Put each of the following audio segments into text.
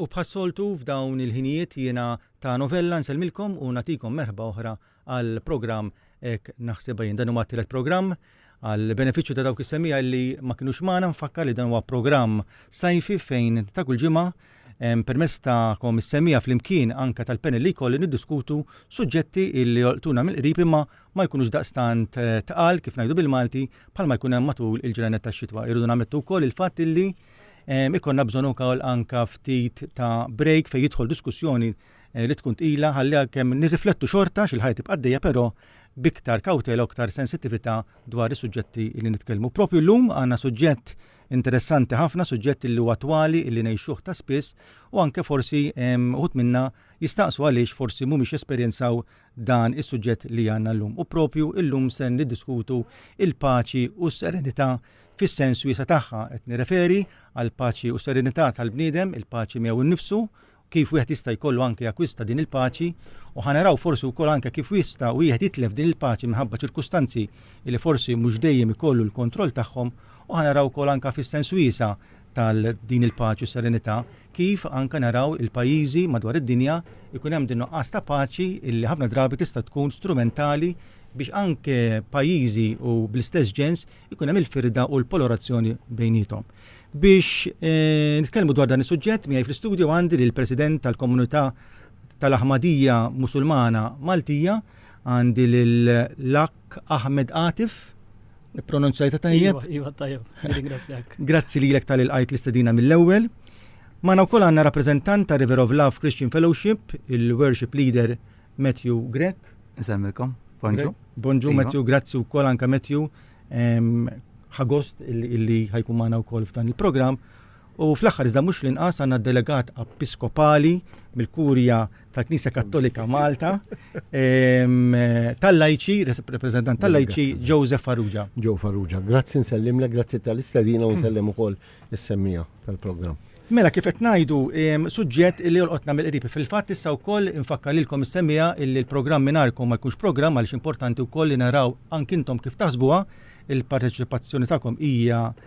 U bħas-soltu f'dawn il-ħinijiet jiena ta' Novella nsellmilkom u nagħtikom merħba oħra għal programm Hekk Naħsibha Jien. Dan huwa t-tielet programm. Għal benefiċċju ta' dawk is-semgħa li ma kinux magħna nfakkar li dan huwa programm sajfi fejn ta' kull ġimgħa permezz tagħkom is-semgħa flimkien anke tal-panel li jkolli niddiskutu suġġetti li jolqtuna mill-qrib imma ma jkunux daqstant tqal, kif ngħidu bil-Malti, bħalma jkun hemm matul il-ġranet tax-xitwa. Irridu nammettu wkoll il-fatt illi ehm, ikonna bżonn ukoll anka ftit ta' break fejn jidħol diskussjoni eh, li tkun tqila ħalli kemm nirriflettu xorta xil-ħajja tibqa' dejja però biktar kawtela u ktar sensitività dwar is-suġġetti li nitkellmu. Propju llum għandna suġġett interessanti ħafna, suġġett li huwa twali li ngħixuh ta' spiss u anke forsi ehm, uħut minna jistaqsu għaliex forsi mhumiex esperjenzaw dan is-suġġett li għandna llum u proprju llum se niddiskutu l-paċi u s-serenità fis-sens wiesa' tagħha. Qed nirreferi għall-paċi u s-serenità tal-bniedem, il-paċi miegħu nnifsu, kif wieħed jista' jkollu anke jakkwista din il-paċi u ħa naraw forsi wkoll anke kif jista' wieħed jitlef din il-paċi minħabba ċirkustanzi li forsi mhux dejjem ikollu l-kontroll tagħhom u ħa naraw ukoll anke fis-sens wiesa' tal-din il-paċi u s-serenità kif anke naraw il-pajjiżi madwar id-dinja jkun hemm din nuqqas ta' paċi li ħafna drabi tista' tkun strumentali biex anke pajjiżi u bl-istess ġens ikun hemm il-firda u l-polorazzjoni bejniethom. Biex nitkellmu dwar dan is-suġġett miegħi fl-istudju għandi lill-President tal-Komunità tal-Aħmadija Musulmana Maltija, għandi lill-Akh Ahmed Atif, pronunzjajta tajjeb? Iva, iva tajjeb, nirringrazzjak. Grazzi lilek tal ilqajt l-istedina mill-ewwel. Magħna wkoll għandna rappreżentant ta' River of Love Christian Fellowship, il-Worship Leader Matthew Grech. Insemmilkom, bonġu. Bonġu iva. Matthew, grazzi wkoll anke Matthew ħagost illi ħajkun magħna wkoll f'dan il-programm. U fl-aħħar iżda mhux l-inqas għandna d-Delegat Episkopali mill-Kurja tal-Knisja Kattolika Malta ehm, tal-Lajċi, rappreżentant tal-Lajċi Joseph Farrugia. Joe Farrugia, grazzi nsellimlek, grazzi tal-istedina u nsellim ukoll is-semmija tal-programm. Mela kif qed ngħidu ehm, suġġett li jolqotna mill-qrib fil-fatt issa wkoll infakkar lilkom is-semmija illi l-programm mingħajrkom ma jkunx programm għaliex importanti wkoll li naraw ankintom kif taħsbuha il-parteċipazzjoni tagħkom hija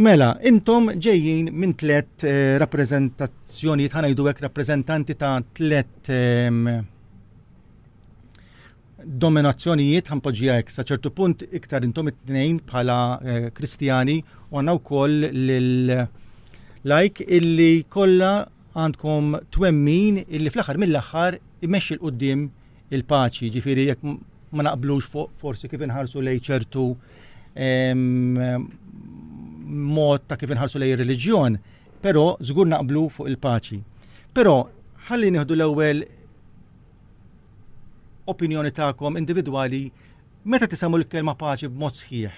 Mela, intom ġejjin minn tliet rappreżentazzjonijiet, ħa ngħidu hekk rappreżentanti ta' tliet ehm, dominazzjonijiet ħanpoġġija hekk sa ċertu punt iktar intom it-tnejn bħala eh, Kristjani u għandna wkoll lil lajk illi kollha għandkom twemmin illi fl-aħħar mill-aħħar imexxi l qudiem il-paċi, ġifieri jekk ma naqblux fuq forsi kif inħarsu lejn ċertu mod ta' kif inħarsu lejn ir-reliġjon, però żgur naqblu fuq il-paċi. Però ħalli nieħdu l-ewwel opinjoni tagħkom individwali meta tisamu l-kelma paċi b'mod sħiħ.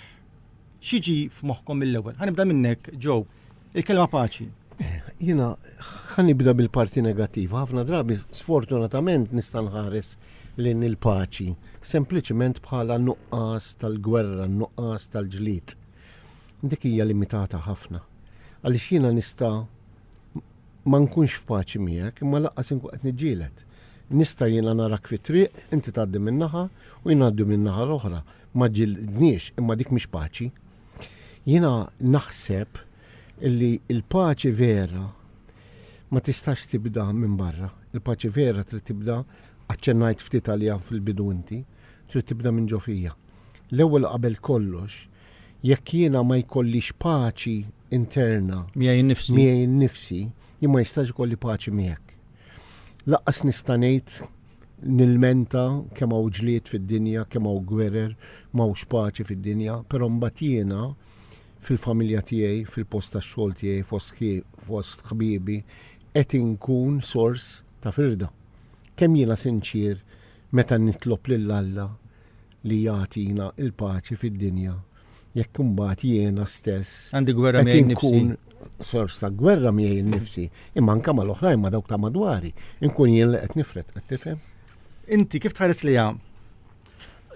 Xiġi f'moħħkom mill-ewwel? Ħanibda minnek, Joe. Il-kelma paċi. Jiena ħanibda bil-parti negattiva. Ħafna drabi sfortunatament nista' nħares lejn il-paċi sempliċement bħala nuqqas tal-gwerra, nuqqas tal-ġlied. Dik hija limitata ħafna. Għaliex jiena nista' ma nkunx f'paċi miegħek, imma laqqas inkun qed niġġieled. Nista' jiena narak fit-triq, inti tgħaddi min-naħa u jien ngħaddi min-naħa l-oħra. ma ġġilidniex, imma dik mhix paċi. Jiena naħseb li l-paċi vera ma tistax tibda minn barra. Il-paċi vera trid tibda, aċċennajt ftit għaliha fil-bidu inti, trid tibda minn ġo fija. L-ewwel qabel kollox, jekk jiena ma jkollix paċi interna miegħi nnifsi, jien ma jistax ikolli paċi miegħek. Lanqas nista' ngħid nilmenta kemm hawn ġlied fid-dinja, kemm hawn gwerer, m'hawnx paċi fid-dinja, però mbagħad jiena fil-familja tiegħi, fil-post tax-xogħol tiegħi, fost fost ħbiebi, qed inkun sors ta' firda. Kemm jiena sinċier meta nitlob lil Alla li jagħtina l-paċi fid-dinja jekk imbagħad jiena stess qed inkun sors ta' gwerra miegħi nnifsi, imma anke mal-oħrajn ma' dawk ta' madwari, inkun jien li qed nifred, qed tifhem? Inti kif tħares liha?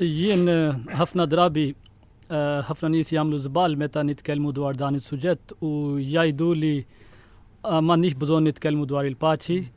Jien eh, ħafna drabi eh, ħafna nies jagħmlu żball meta nitkellmu dwar dan is-suġġett u jgħidu li eh, m'għandniex bżonn nitkellmu dwar il-paċi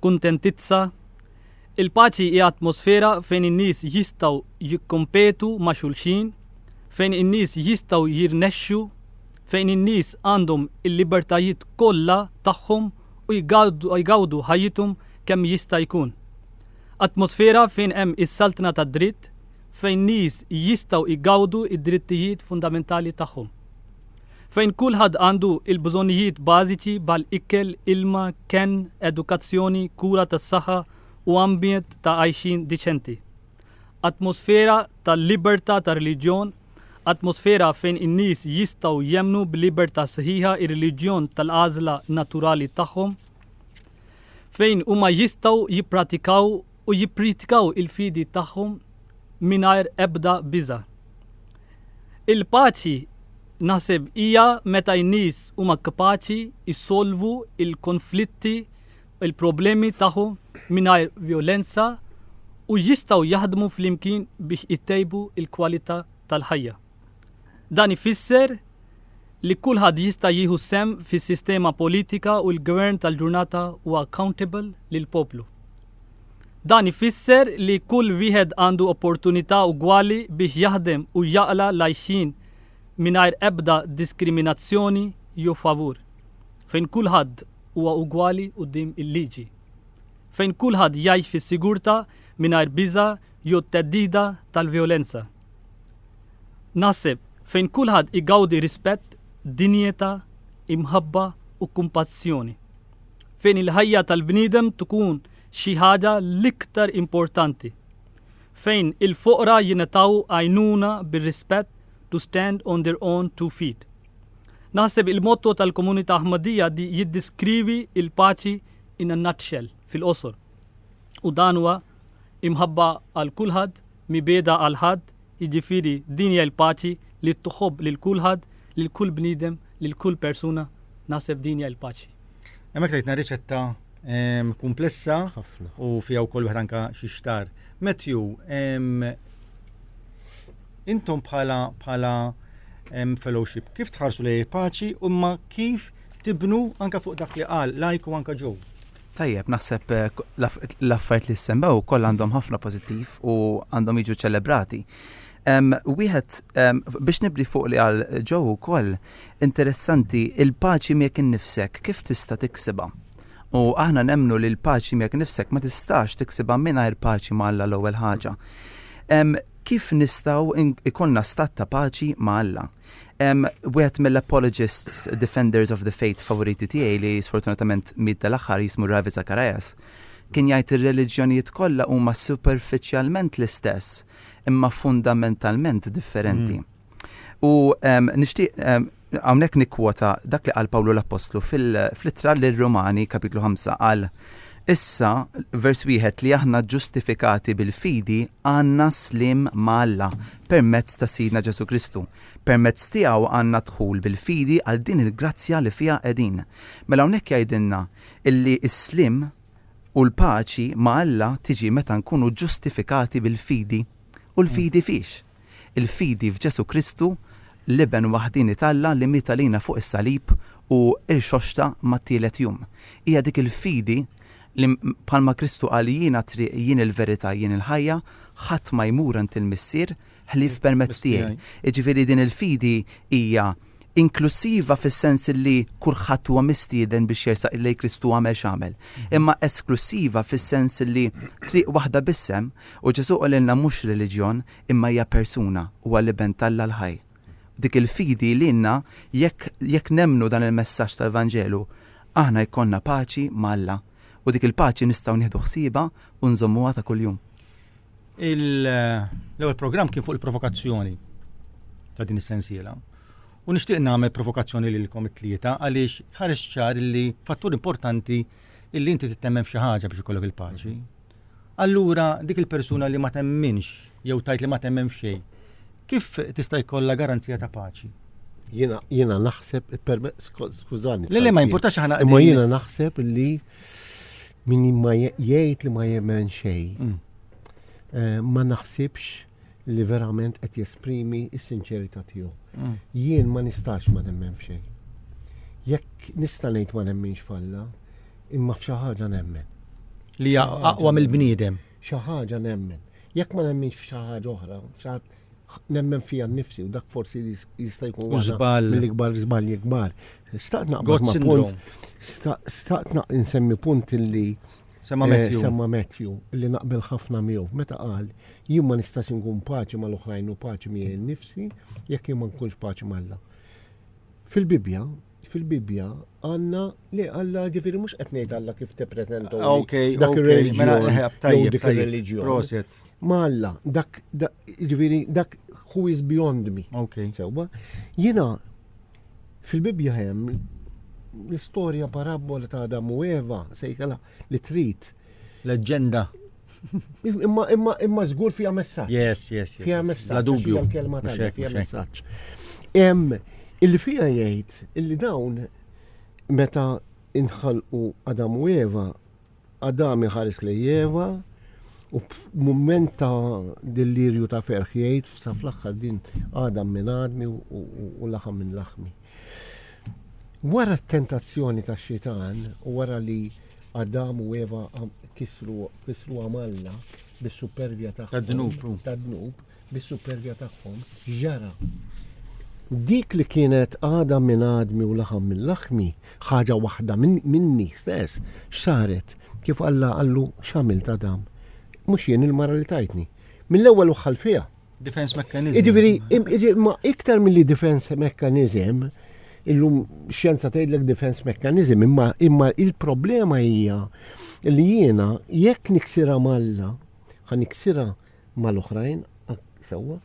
kuntentizza. Il-paċi hija atmosfera fejn in-nies jistgħu jikkompetu ma' xulxin, fejn in-nies jistgħu jirnexxu, fejn in-nies għandhom il-libertajiet kollha tagħhom u jgawdu ħajjithom kemm jista' jkun. Atmosfera fejn hemm is-saltna tad-dritt, fejn nies jistgħu jgawdu d-drittijiet fundamentali tagħhom. fejn kulħadd għandu l-bżonnijiet bażiċi bħal ikel, ilma, kenn, edukazzjoni, kura tas-saħħa u ambjent ta' għajxien diċenti. Atmosfera ta' libertà ta' reliġjon, atmosfera fejn in-nies jistgħu jemmnu b'libertà sħiħa r-reliġjon tal-għażla naturali tagħhom, fejn huma jistgħu jippratikaw u jippritkaw il-fidi tagħhom mingħajr ebda biża'. Il-paċi naħseb hija meta n-nies huma kapaċi jsolvu l-konflitti u l-problemi tagħhom mingħajr vjolenza u jistgħu jaħdmu flimkien biex itejbu l-kwalità tal-ħajja. Dan ifisser li kulħadd jista' jieħu sehem fis-sistema politika u l-gvern tal-ġurnata huwa accountable lill-poplu. Dan ifisser li kull wieħed għandu opportunità ugwali biex jaħdem u jaqla' l-għajxien mingħajr ebda diskriminazzjoni jew favur, fejn kulħadd huwa ugwali quddiem il-liġi, fejn kulħadd jgħix fis-sigurtà mingħajr biża' jew theddida tal-vjolenza, naħseb, fejn kulħadd igawdi rispett, dinjità, imħabba u kumpassjoni. fejn il-ħajja tal-bniedem tkun xi ħaġa l-iktar importanti, fejn il-foqra jingħataw għajnuna bir-rispett to stand on their own two feet. Naħseb il-motto tal-Komunità Ahmadiyya di jiddiskrivi l-paċi in a nutshell, fil-qosor. U dan huwa imħabba għal kulħadd, mibegħda għal ħadd, jiġifieri din hija l-paċi li tħobb lil kulħadd, lil kull bniedem, lil kull persuna, naħseb din hija l-paċi. Hemmhekk tajtna riċetta kumplessa u fiha wkoll wieħed anke xi xtar. Matthew, intom bħala bħala fellowship, kif tħarsu lej paċi u ma kif tibnu anka fuq dak li qal lajku anka ġew? Tajjeb, naħseb l-affarijiet li ssemmew kollha għandhom ħafna pożittiv u għandhom jiġu ċċelebrati. Wieħed biex nibni fuq li qal Joe ukoll, interessanti, il-paċi miegħek innifsek kif tista' tiksibha? U aħna nemmnu li l-paċi miegħek innifsek ma tistax tiksibha mingħajr paċi ma' Alla l-ewwel ħaġa. Kif nistgħu jkollna stat ta' paċi ma' Alla? Wieħed mill-apologists, defenders of the faith favoriti tiegħi li sfortunatament miet dal-aħħar jismu Ravi Zacharias, kien jgħid ir-reliġjonijiet kollha huma superfiċjalment l-istess imma fundamentalment differenti. U nixtieq hawnhekk nikkwota dak li qal Pawlu l-Appostlu fl-ittra lir-Rumani kapitlu 5 qal Issa, vers wieħed li aħna ġustifikati bil-fidi għandna slim ma' Alla permezz ta' Sidna Ġesù Kristu. Permezz tiegħu għandna dħul bil-fidi għal din il-grazzja li fiha qegħdin. Mela hawnhekk jgħidilna illi s-sliem u l-paċi ma' Alla tiġi meta nkunu ġustifikati bil-fidi. U l-fidi fiex? Il-fidi f'Ġesù Kristu, l-Iben waħdieni t'Alla li miet għalina fuq is-salib u rxoxta mat-tielet jum. Hija dik il-fidi li bħalma Kristu qal jien għat-triq, jien il-verità, jien il-ħajja, ħadd ma jmur għand il-Missier ħlief permezz tiegħi. Jiġifieri din il-fidi hija inklussiva fis-sens li kulħadd huwa mistieden biex jersaq lejn Kristu għamel x'għamel, imma esklussiva fis-sens li triq waħda biss hemm u Ġesù qalilna mhux reliġjon imma hija persuna, huwa l-Iben t'Alla l-ħaj. B'dik il-fidi lilna, jekk, jekk nemmnu dan il-messaġġ tal-Vanġelu, aħna jkollna paċi ma' Alla, u dik il-paċi nistgħu nieħdu ħsiebha u nżommuha ta' kuljum. Il, l-ewwel programm kien fuq il-provokazzjoni ta' din is-sensiela. U nixtieq nagħmel provokazzjoni lilkom it-tlieta għaliex ħareġ ċar li fattur importanti illi inti tittemmen f'xi ħaġa biex ikollok il-paċi. allura dik il-persuna li ma temminx jew tgħid li ma temmen f'xejn, kif tista' jkollha garanzija ta' paċi? Jiena jiena naħseb skużani. Le le ma jimpurtax aħna Imma jiena naħseb li min ma jgħid li ma jemmen xejn mm. eh, ma naħsibx li verament qed jesprimi s-sinċerità tiegħu. Mm. Jien ma nistax ma nemmen f'xejn. Jekk nista' ngħid ma nemminx falla, imma f'xi ħaġa nemmen. Li hija aqwa mill-bniedem. Xi ħaġa nemmen. Jekk ma nemminx f'xi ħaġa oħra, nemmen fija nnifsi u dak forsi jista' jkun żball mill-ikbar żball ikbar. Staqt naqbad ma' punt, staqt nsemmi punt li Semma Matthew. Semma Matthew li naqbel ħafna miegħu meta qal jien ma nistax inkun paċi mal-oħrajn u paċi miegħi nnifsi jekk jien ma nkunx paċi mal-Alla. Fil-Bibbja, fil-Bibbja għanna li għalla ġifiri mux qed ngħid għalla kif te prezento. Ah, ok, dak mela, il-reliġjon. Proset. Ma għalla, dak ġifiri dak who is beyond me. Ok. Sewwa, jiena Fil-Bibbja hemm l-istorja parabbola ta' Adam u Eva, sejħilha li trid. Leġġenda. Imma imma imma żgur fiha messaġġ. Yes, yes, yes. Fiha messaġġ. La dubju. L-kelma ta' fiha messaġġ. Hemm illi fiha jgħid illi dawn meta inħalqu Adam u Eva Adam iħares lejn Eva u f'mument ta' dellirju ta' ferħ jgħid sa fl-aħħar din Adam minn għadmi u laħam minn laħmi. Wara t-tentazzjoni ta' xitan u wara li Adam u Eva kisru kisru għamalla bis-supervja ta' dnub. bis-supervja tagħhom, x'ġara? Dik li kienet għadam minn għadmi u laħam minn laħmi, ħaġa waħda minni stess, x'saret? Kif Alla qallu, X'għamilt Adam? Mhux jien il-mara li tajtni. Mill-ewwel u ħall fiha. Defense mechanism. Jiġifieri, ma iktar milli defense mechanism, illum xjenza tgħidlek defense mechanism, imma imma il-problema hija li jiena jekk niksira malla, ħa niksira mal-oħrajn, sewwa,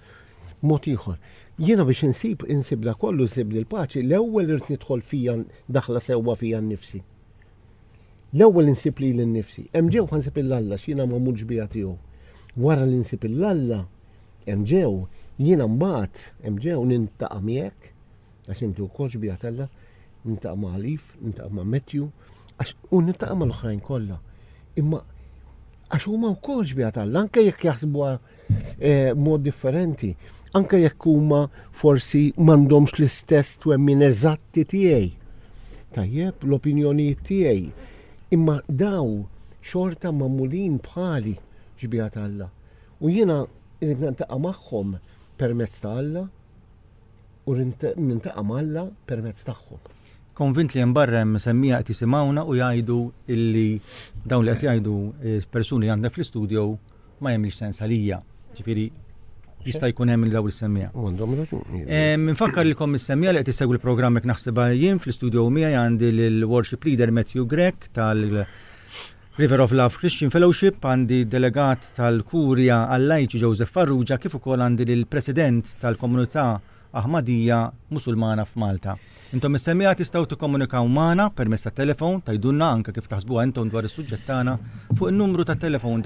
mod ieħor. Jiena biex insib, insib dak kollu, insib l-paċi, l-ewwel irrid nidħol fija, daħla sewwa fija nnifsi. L-ewwel insib lili nnifsi. Hemm ġewħa nsib il Alla x'jiena magħmul xbieha tiegħu. Wara li nsib il Alla, hemm ġew, jiena mbagħad, hemm ġew, nintaqa' miegħek, Għax inti wkoll xbieha t'Alla, niltaqa' ma' Alif, niltaqa' ma' Matthew, għax u niltaqa' mal-oħrajn kollha. Imma għax huma wkoll xbieha t'Alla, anke jekk jaħsbuha eh, mod differenti, anke jekk huma forsi m'għandhomx l-istess twemmin eżatti tiegħi. Tajjeb, l-opinjonijiet tiegħi. Imma daw xorta magħmulin bħali xbieha t'Alla. U jiena rrid niltaqa' magħhom permezz ta' Alla. u nintaqa' ma' Alla permezz tagħhom. Konvint li hemm barra hemm imsemmija qed jisimgħuna u jgħidu illi dawn li qed jgħidu persuni li għandna fl-istudio ma jagħmilx sens għalija. Ġifieri jista' jkun hemm dawn is-semmija. U għandhom raġuni. Minfakkar li kom is-semmija li qed issegwi l-programm hekk naħsibha jien fl-istudio miegħi għandi l-worship leader Matthew Grek tal River of Love Christian Fellowship għandi d-Delegat tal-Kurja għal-Lajċi Joseph Farrugia kif ukoll għandi lill-President tal-Komunità Aħmadija Musulmana f'Malta. Intom mis-semmiegħa tistgħu tikkomunikaw magħna permezz tat-telefon, tgħidulna anke kif taħsbuha intom dwar is-suġġett tagħna fuq in-numru tat-telefon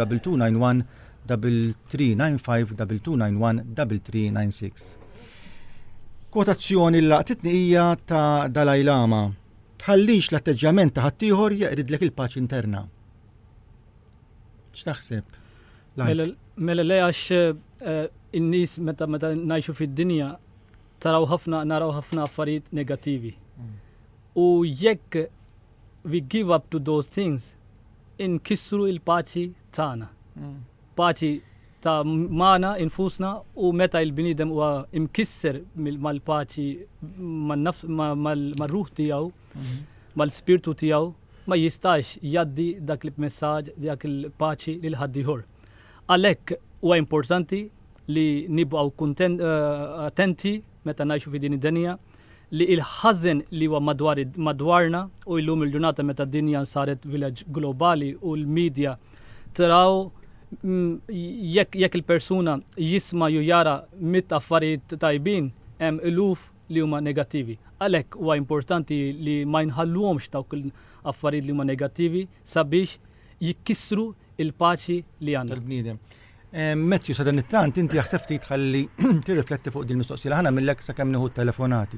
2291-3395-2291-3396. Kwotazzjoni li laqtitni hija ta' Dalai Lama. Tħallix l-atteġġjament ta' ħaddieħor jeqridlek il-paċi interna. X'taħseb? Mela, mela le għax eh, in-nies meta meta ngħixu fid-dinja taraw ħafna naraw ħafna affarijiet negattivi. Mm. U jekk we give up to those things, inkissru il-paċi tagħna. Mm. Paċi ta' magħna infusna u meta l-bniedem huwa mkisser mal-paċi mar-ruħ tiegħu, mal-spirtu tiegħu, ma jistax jgħaddi dak il-messaġġ, dak il-paċi lil ħaddieħor. Għalhekk huwa importanti li nibqgħu attenti meta ngħixu fi din id-dinja, li il-ħażen li huwa madwar madwarna u illum il-ġurnata meta d-dinja saret village globali u l-media traw jekk jekk il-persuna jisma' ju jara mitt affarijiet tajbin hemm iluf li huma negattivi. Għalhekk huwa importanti li ma jinħalluhomx dawk l-affarijiet li huma negattivi sabiex jikkissru il-paċi li għandna. tal-bniedem. Matthew, sadanittant inti jaħseb ftit ħalli tirrifletti fuq din mistoqsija li ħana millek sakemm nieħu telefonati.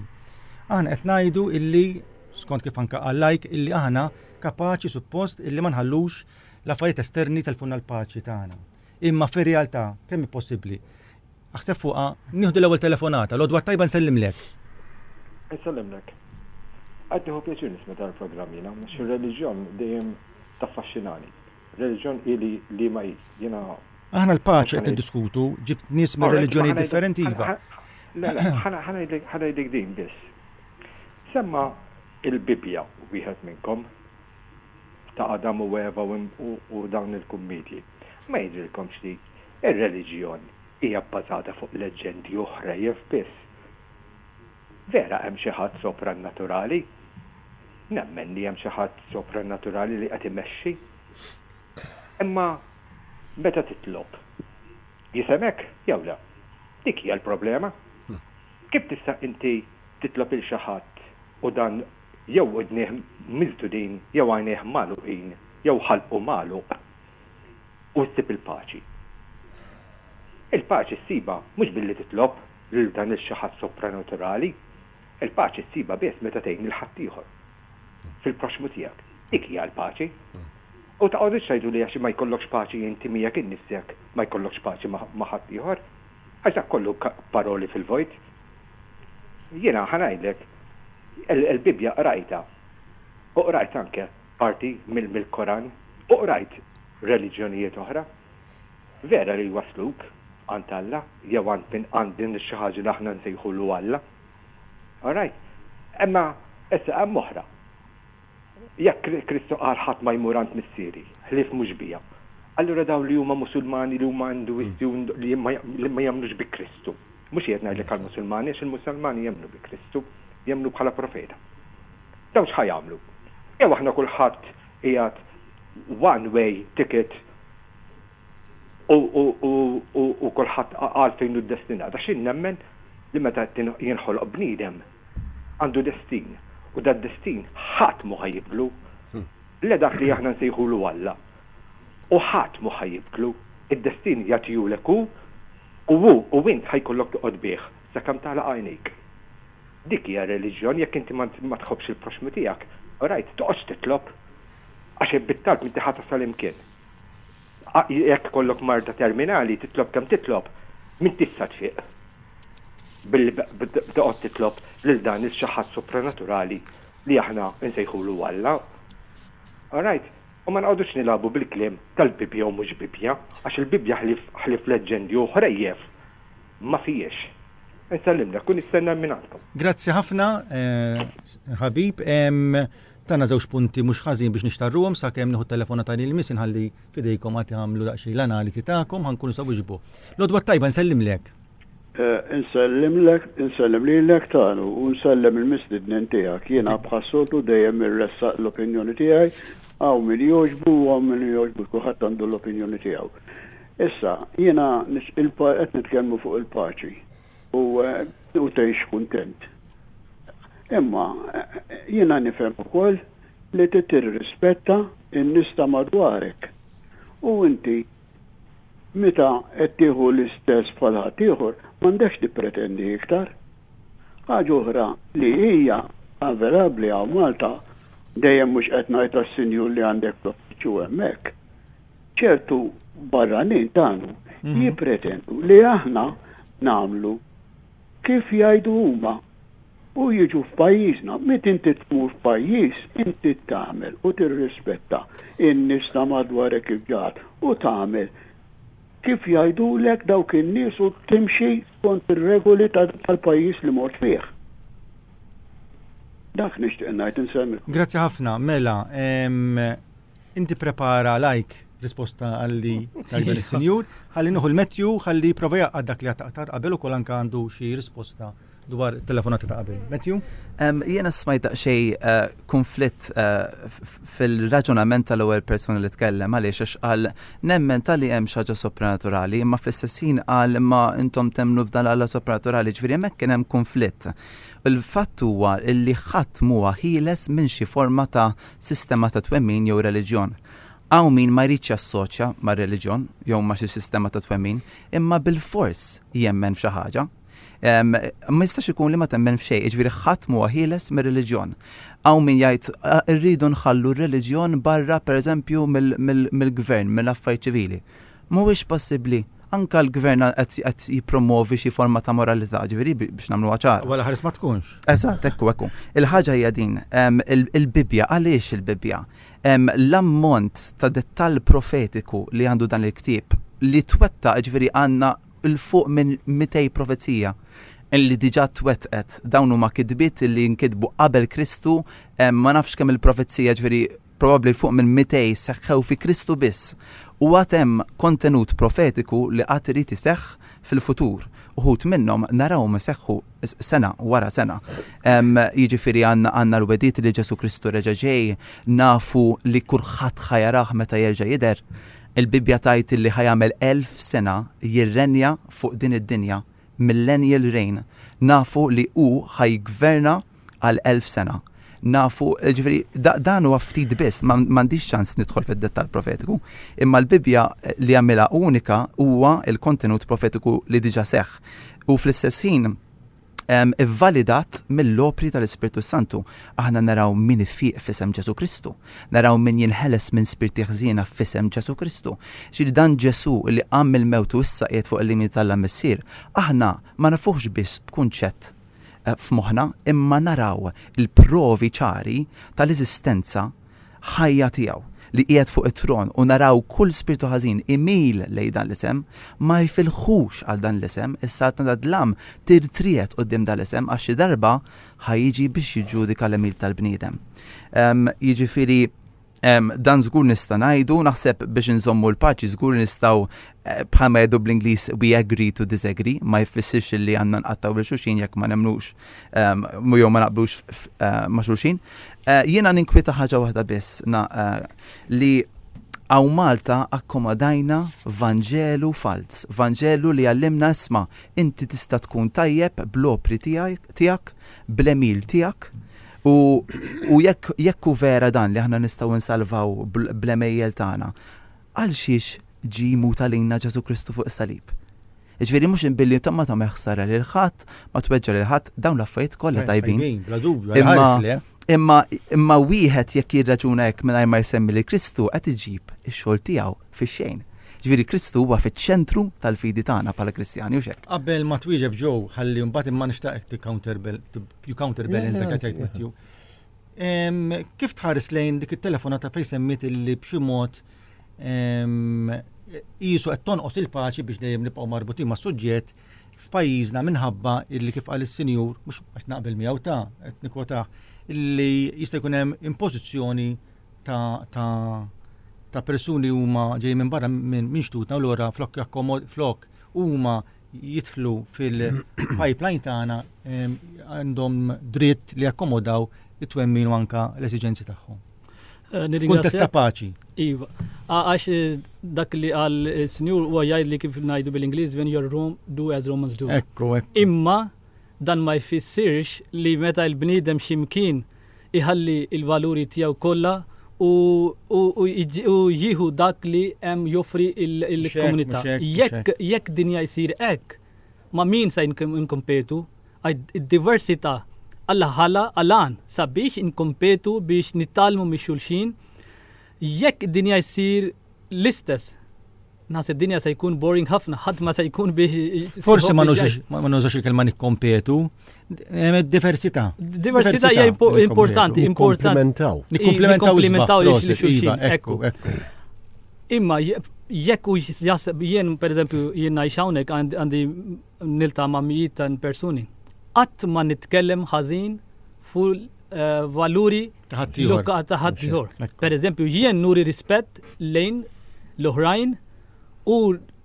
Aħna qed ngħidu illi skont kif anka qal lajk illi aħna kapaċi suppost illi ma nħallux l-affarijiet esterni telfunna l-paċi tagħna. Imma fir-realtà kemm hi possibbli? Aħseb fuqha nieħdu l-ewwel telefonata, l-odwa tajba nsellimlek. Nsellimlek. Qed nieħu pjaċir nisma' dan il-programm jiena, xi reliġjon dejjem taffaxxinani. Reliġjon hi li liema hi? Jiena. Aħna l-paċi qed niddiskutu, ġibt nies minn reliġjonijiet differenti iva. Le, le, ħa ngħidlek din biss. Semma l-Bibbja wieħed minnkom, ta' Adam u Eva u dawn il-kummiedji. Ma jidhrilkomx li r-reliġjon hija bbażata fuq leġġendi u ħrejjef biss? Vera hemm xi ħadd soprannaturali? Nemmen li hemm xi ħadd soprannaturali li qed imexxi. Imma meta titlob, jifhemek jew le? Dik hija l-problema. Kif tista' inti titlob 'il xi ħadd u dan jew udnieh miżdudin jew għajnejh magħluqin jew ħalqu magħluq u ssib il-paċi? Il-paċi ssibha mhux billi titlob lil dan il-xi ħadd sopranaturali, il-paċi ssibha biss meta tgħin lil ħaddieħor fil-proxxmu tiegħek. Dik hija l-paċi. U taqgħodux tgħidu li għax ma jkollokx paċi inti miegħek innifsek, ma jkollokx paċi ma' ħaddieħor, għax dak kollu paroli fil-vojt. Jiena ħa ngħidlek, il-Bibbja qrajtha u qrajt anke parti mill-Koran u qrajt reliġjonijiet oħra, Vera li jwassluk għand Alla jew għand min għand din xi ħaġa li aħna nsejħulu Alla. All right? Imma issa hemm oħra. Jekk Kristu qal ħadd ma jmur għand Missieri ħlief mhux bija, allura dawn li huma Musulmani li huma Induisti u li ma jemmnux bi Kristu, mhux qiegħed ngħidlek għall-Musulmani għax il-Musulmani jemmnu bi Kristu, jemmnu bħala profeta. Dawn x'ħa jagħmlu? Jew aħna kulħadd qiegħed one way ticket u kulħadd qal fejn hu ddestinat għax jien nemmen li meta jinħoloq bniedem għandu destin u dad-destin ħadd mhu ħa jibdlu la dak li aħna nsejħulu Alla u ħadd mhu ħa jibdlu, id-destin jagħtihulek hu u hu u int ħa jkollok toqgħod bih Sakemm tagħlaq għajnejk. Dik hija r-reliġjon, jekk inti ma tħobbx il-proxxmu tiegħek, orajt, toqgħodx titlob, għax jekk bit-talb inti ħa tasal hemm kien. Jekk ikollok marda terminali, titlob kemm titlob, m'intix sa tfiq billi toqgħod titlob lil dan il-xi ħadd supranaturali li aħna nsejħulu Alla. Orajt? U ma noqgħodux nilagħbu bil-kliem tal-Bibbja u mhux Bibbja, għax il-Bibbja ħlief ħlief leġġendi u ħrejjef Ma fihiex. Insellimlek u nistenna minn għandkom. Grazzi ħafna ħabib. Tana żewġ punti mhux ħażin biex nixtarruhom sakemm nieħu t-telefonata li jmiss inħalli f'idejkom għad tagħmlu daqsxejn l-analiżi tagħkom ħa nkunu nistgħu wieġbu. L-għodwa t-tajba nsellimlek. Insellimlek, insellem lilek Tanu u nsellem il-mistidnin tiegħek. Jiena bħas-soltu dejjem irressaq l-opinjoni tiegħi, hawn min jogħġbu u hawn min jogħġbux kulħadd għandu l-opinjoni tiegħu. Issa, jiena qed nitkellmu fuq il-paċi u u tgħix kuntent. Imma jiena nifhem ukoll li trid tirrispetta n-nies ta' madwarek. U inti meta qed tieħu l-istess bħal ħaddieħor m'għandekx tippretendi iktar. Ħaġa oħra li hija avelabbli hawn Malta, dejjem mhux qed ngħid għas-sinjur li għandek fl-uffiċċju hemmhekk, ċertu barranin tagħnu jippretendu li aħna nagħmlu kif jgħidu huma u jiġu f'pajjiżna. Meta inti tmur f'pajjiż, inti tagħmel u tirrispetta n-nies ta' madwarek kif ġa għad u tagħmel kif jgħidulek dawk in-nies u timxi skont ir-regoli tal-pajjiż li mort fih. Dak nixtieq ngħid, insemmi. Grazzi ħafna. Mela, Inti prepara lajk risposta għalli tajba l-senjur, għalli nuhu l-metju, għalli prova jaqqa dak li għattaqtar qabel u kol anka għandu xie risposta dwar telefonata ta' qabel. Metju? Jena smajt daqxej eh, konflitt eh, fil-raġunament tal-ewwel persona li tkellem għaliex għax qal nemmen tal-li hemm xaġa sopranaturali, imma fl-istess ħin qal ma intom temnu f'dan għalla sopranaturali, ġifieri hemmhekk kien hemm konflitt. Il-fatt huwa li ħadd huwa ħieles minn xi forma ta' sistema ta' twemmin jew reliġjon. Hawn min ma jridx jassoċja mar-reliġjon jew ma' xi sistema ta' twemmin, imma bilfors jemmen f'xi ħaġa. Ma jistax ikun li ma temmen f'xejn, jiġifieri ħadd m'huwa ħieles mir-reliġjon. Hawn min jgħid irridu nħallu r-reliġjon barra pereżempju mill-gvern, mill-affarijiet ċivili. Mhuwiex possibbli. Anke l-Gvern qed jippromwovi xi forma ta' moralità, jiġifieri biex nagħmluha ċara. Wara ħares ma tkunx. Eżatt, hekk hu, hekk hu. Il-ħaġa hija din, il-Bibbja, għaliex il-Bibbja? L-ammont ta' dettall profetiku li għandu dan il-ktieb, li twettaq, jiġifieri għandna 'l fuq minn mitej profezija li diġà twettqet. Dawn huma kitbiet li nkitbu qabel Kristu, ma nafx kemm-il profezija, jiġifieri Probabbli fuq minn mitej seħħew fi Kristu biss, u għad hemm kontenut profetiku li għad irid iseħħ fil-futur. Uħud minnhom narawhom iseħħu sena wara sena. Jiġifieri għandna l-wegħdiet li Ġesù Kristu reġa' ġej, nafu li kulħadd ħa jarah meta jerġa' jidher. Il-Bibbja tgħid li ħa jagħmel elf sena jirrenja fuq din id-dinja, millennial reign. Nafu li hu ħa jiggverna għal elf sena. Nafu, ġifieri, dan huwa ftit biss, m'għandix ċans nidħol fid-dettall profetiku, imma l-Bibbja li jagħmilha unika huwa l-kontenut profetiku li diġà seħħ u fl-istess ħin ivvalidat mill-opri tal-Ispirtu s-Santu. Aħna naraw min ifieq f'isem Ġesu Kristu, naraw min jinħeles minn spirti ħżiena f'isem Ġesu Kristu. Ġieli dan Ġesu li qam mill-mewt u issa qiegħed fuq il-limiti tal-Missier, aħna ma nafuhx biss b'kunċett f'moħħna imma naraw il-provi ċari tal-eżistenza ħajja tiegħu li qiegħed fuq it-tron u naraw kull spirtu ħażin imil lejn dan l-isem ma jfilħux għal dan l-isem, is-saltna tad-dlam tirtriegħed quddiem dan l-isem għax xi darba ħa jiġi biex jiġġudika l-għemil tal-bniedem. Jiġifieri Dan żgur nista' ngħidu, naħseb biex inżommu l-paċi żgur nistgħu eh, bħalma jgħidu bl-Ingliż we agree to disagree, ma jfissirx li għandna nqattaw lil xulxin jekk ma nemnux ehm, jew ma naqblux eh, ma' xulxin. Eh, jiena ninkwita ħaġa waħda biss li għaw Malta akkomodajna Vanġelu falz, Vanġelu li għallimna isma, inti tista' tkun tajjeb bl-opri tijak, bl-emil tijak, U, u jekk, jekk hu vera dan li aħna nistgħu nsalvaw bl-għemejjel tagħna, għalxiex ġie jmut għalina Ġesù Kristu fuq is-salib? Jiġifieri mhux billi ta' ma tagħmel ħsara lil ħadd, ma tweġġa' lil ħadd, dawn l-affarijiet kollha tajbin. Tajbin, bla dubju, imma, ħares le. Imma, imma wieħed jekk jirraġuna hekk mingħajr ma jsemmi lil Kristu qed iġib ix-xogħol tiegħu fix-xejn. Jiġifieri Kristu huwa fiċ-ċentru tal-fidi tagħna bħala Kristjani, hux hekk? Qabel ma twieġeb Joe, ħalli mbagħad imma nixtaq hekk tikkawnter You counterbalance dak li tgħid Matthew. Kif tħares lejn dik it-telefonata fejn semmit illi b'xi mod jisu qed tonqos il-paċi biex dejjem nibqgħu marbutin ma' suġġett f'pajjiżna minħabba illi kif qal is-sinjur, mhux qed naqbel miegħu ta' qed nikwota, illi jista' jkun hemm impożizzjoni ta' persuni huma ġej minn barra minn xtutna u lura flok flok huma jidħlu fil-pipeline tagħna għandhom dritt li jakkomodaw it-twemmin u anka l-esiġenzi tagħhom. Eh, Kuntest ta' paċi. Iva, għax eh, dak li għal eh, sinjur u għajaj li kif najdu bil-Inglis, when you're Rome, do as Romans do. Ekku, ekku. Imma dan ma jfissirx li meta il-bnidem ximkien iħalli l-valuri tiegħu kollha u jieħu dak li hemm joffri l-komunità. Jekk dinja jsir hekk, ma' min se nkompetu? Id-diversità Alla ħala għalan sabiex inkompetu biex nitgħallmu mix-xulxin. Jekk dinja jsir l-istess, Naħseb dinja se jkun boring ħafna, ħadd ma se jkun biex. Forsi ma nużax il-kelma nikkompetu, diversità. Diversità hija importanti, importanti. Nikkomplementaw. Nikkomplementaw li xulxin. Ekku, ekku. Imma jekk u jaħseb jien, per eżempju, jien ngħix hawnhekk għandi nilta' ma' mijiet ta' persuni, qatt ma nitkellem ħażin fuq il-valuri ta' ħaddieħor. Pereżempju, jien nuri rispett lejn l-oħrajn u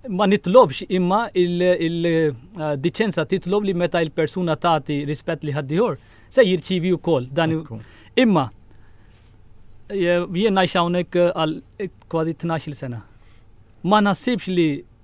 ma nitlobx imma il-diċenza titlob li meta l-persuna tagħti rispett li ħaddieħor se jirċievi wkoll dan. Imma jien ngħix hawnhekk għal kważi tnax-il sena. Ma naħsibx li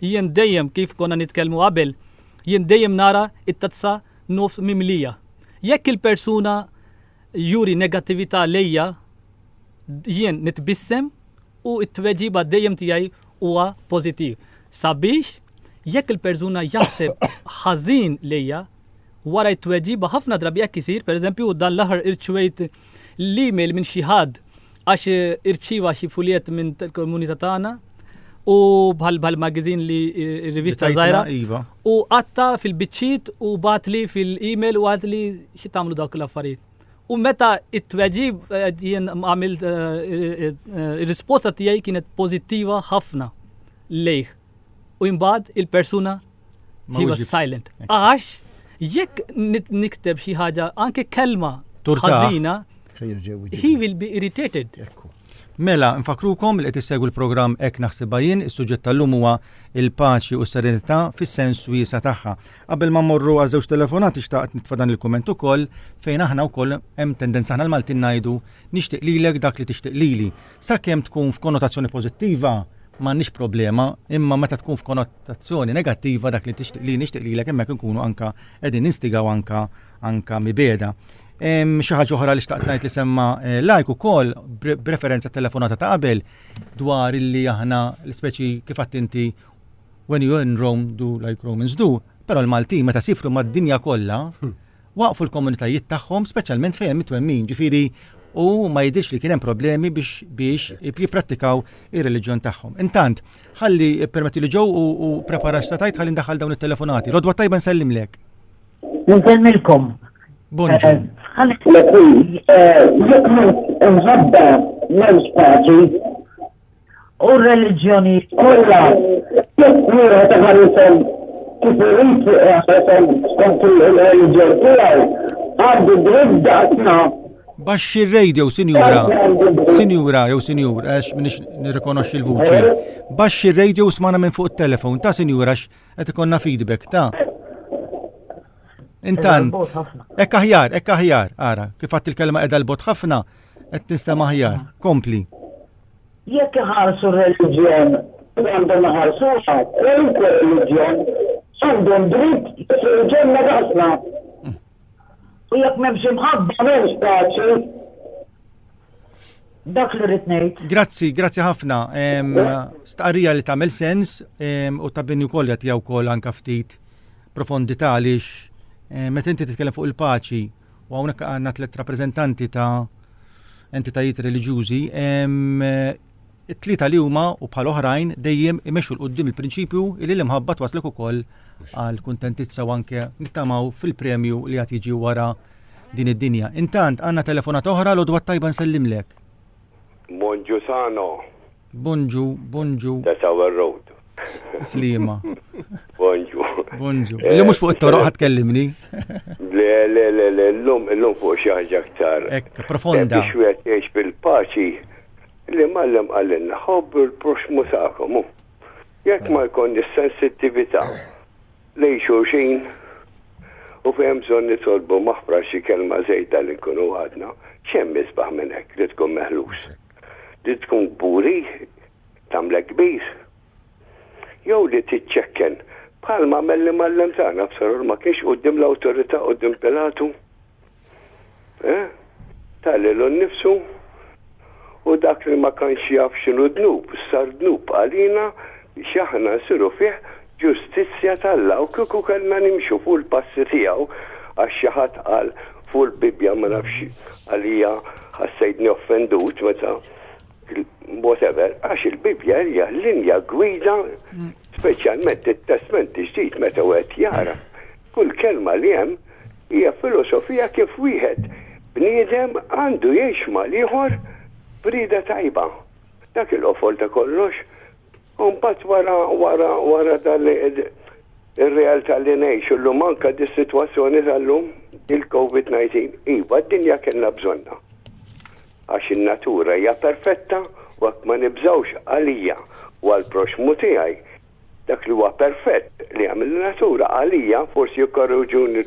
Jien dejjem kif konna nitkellmu qabel, jien dejjem nara t-tazza nofs mimlija. Jekk il-persuna juri negattività lejja, jien nitbissem u t-tweġiba dejjem tiegħi huwa pożittiv. Sabiex jekk il-persuna jaħseb ħażin lejja, wara t-tweġiba ħafna drabi hekk isir, pereżempju dan l-aħħar irċevejt l-email minn xi ħadd għax irċieva xi fuljett minn komunità tagħna u bħal bħal magazin li rivista żgħira. Iva. U qatta fil-biċċiet u batli fil-email u għadli xi tagħmlu dawk l-affarijiet. U meta it-tweġib eh, jien għamil eh, eh, risposta tiegħi kienet pożittiva ħafna lejh. U imbagħad il-persuna He was silent. Għax, jekk nikteb xi ħaġa, anke kelma ħażina, he will be irritated. Mela, nfakrukom li qed issegwu l-programm Ek naħsibha jien, is-suġġett tal-lum huwa il-paċi u s-serenità fis-sens wiesa tagħha. Qabel ma morru għal żewġ telefonati xtaqt nitfa' dan il-kumment ukoll fejn aħna wkoll hemm tendenza aħna l-Maltin ngħidu nixtieq lilek dak li tixtieq lili. Sakemm tkun f'konnotazzjoni pożittiva m'għandniex problema, imma meta tkun f'konnotazzjoni negattiva dak li tixtieq li nixtieq lilek hemmhekk inkunu anka qegħdin ninstigaw anka anka mibeda. Xi ħaġa oħra li xtaqt ngħid li semma eh, lajk ukoll b'referenza telefonata ta' qabel dwar illi aħna l-ispeċi kif attinti when you in Rome do like Romans do, però l-Maltin meta sifru mad-dinja kollha hmm. waqfu l-komunitajiet tagħhom speċjalment fejn hemm it-twemmin, ġifieri u ma jidhirx li kien hemm problemi biex biex jipprattikaw ir-reliġjon tagħhom. Intant, ħalli permetti li ġew u, u prepara x'satajt ħalli ndaħħal dawn it-telefonati. Rodwa tajba nsellimlek. Nselmilkom. Bonġu. Ħalli. Nħabba l-spazju u r-reliġjonijiet kollha jekk wieħed iħarishom kif irid iqishom skont il-reliġjon tiegħu, għandu dritt daqsna. Baxxi r-radio, sinjura. Sinjura jew sinjur, għax m'iniex nirrikonoxxi l-vuċi. Baxxi r-radio u smana minn fuq it-telefon, ta' sinjura għax qed ikollna feedback, ta'. Intant, hekk aħjar, hekk aħjar, ara, kif għadt il-kelma qiegħda 'l bogħod ħafna, Qed tistema' aħjar. Kompli. Jekk iħarsu r-reliġjon kif għandhom iħarsuha, kwalunkwe reliġjon għandu d-dritt jidħol il-ġenna b'ħafna. U jekk m'hemmx imħabba m'hemmx paċi. Dak li rrid ngħid. Grazzi, grazzi ħafna. Stqarrija li tagħmel sens u ta' bini wkoll jagħtiha wkoll anke ftit profondità għaliex meta inti titkellem fuq il-paċi U hawnhekk għandna tliet rappreżentanti ta' entitajiet reliġjużi, it-tlieta li huma u bħal oħrajn dejjem imexxu l qudiem il-prinċipju li l-imħabba twaslek ukoll għal kuntentizza u anke nittamaw fil-premju li għad jiġi wara din id-dinja. Intant għandna telefonat oħra l-odwa tajba nsellimlek. Monġusano. Bonġu, bonġu. Ta' Tower Road. Sliema. Bonġu. Bonġu. Eh, li mhux fuq it-toroq ħadd kellimni. Le, le, le, le, llum, llum fuq xi ħaġa aktar. Ekk, profonda. Biex wieħed jgħix fil-paċi li mallem għalinna ħobb il-proxmu tagħkom. Jekk ma jkun is-sensittività lejn xulxin u fejn bżonn nitolbu maħfra xi kelma żejda li nkunu għadna, x'hemm isbaħ minn hekk li tkun meħlus. Li tkun kburi tagħmlek kbir. Jew li tiċċekken, bħalma għamel l-Imgħallem tagħna Absalom, ma kienx quddiem l-awtorità, quddiem Pilatu? Eh? Ta lilu nnifsu u dak li ma kanx jaf x'inhu dnub, sar dnub għalina biex aħna nsiru fih Ġustizzja t'Alla, u kieku kellna nimxu fuq il-passi tiegħu, għax xi ħadd qal fuq il-Bibbja ma nafx għalija ħassejtni offendut meta whatever, għax il-Bibbja hija l-linja gwida speċjalment it-Testment il-Ġdid meta wieħed jara kull kelma li hemm hija filosofija kif wieħed bniedem għandu jgħix mal-ieħor b'rieda tajba. Dak il-qofol ta' kollox U mbagħad wara, wara, wara dan li r-realtà li ngħixu llum anke dis-sitwazzjoni tal-lum, il-Covid 19, iva d-dinja kellna bżonnha. Għax in-natura hija perfetta u hekk ma nibżgħux għalija u għall-proxxmu tiegħi. Dak li huwa perfett li għamel in-natura għalija, forsi jikkorreġuni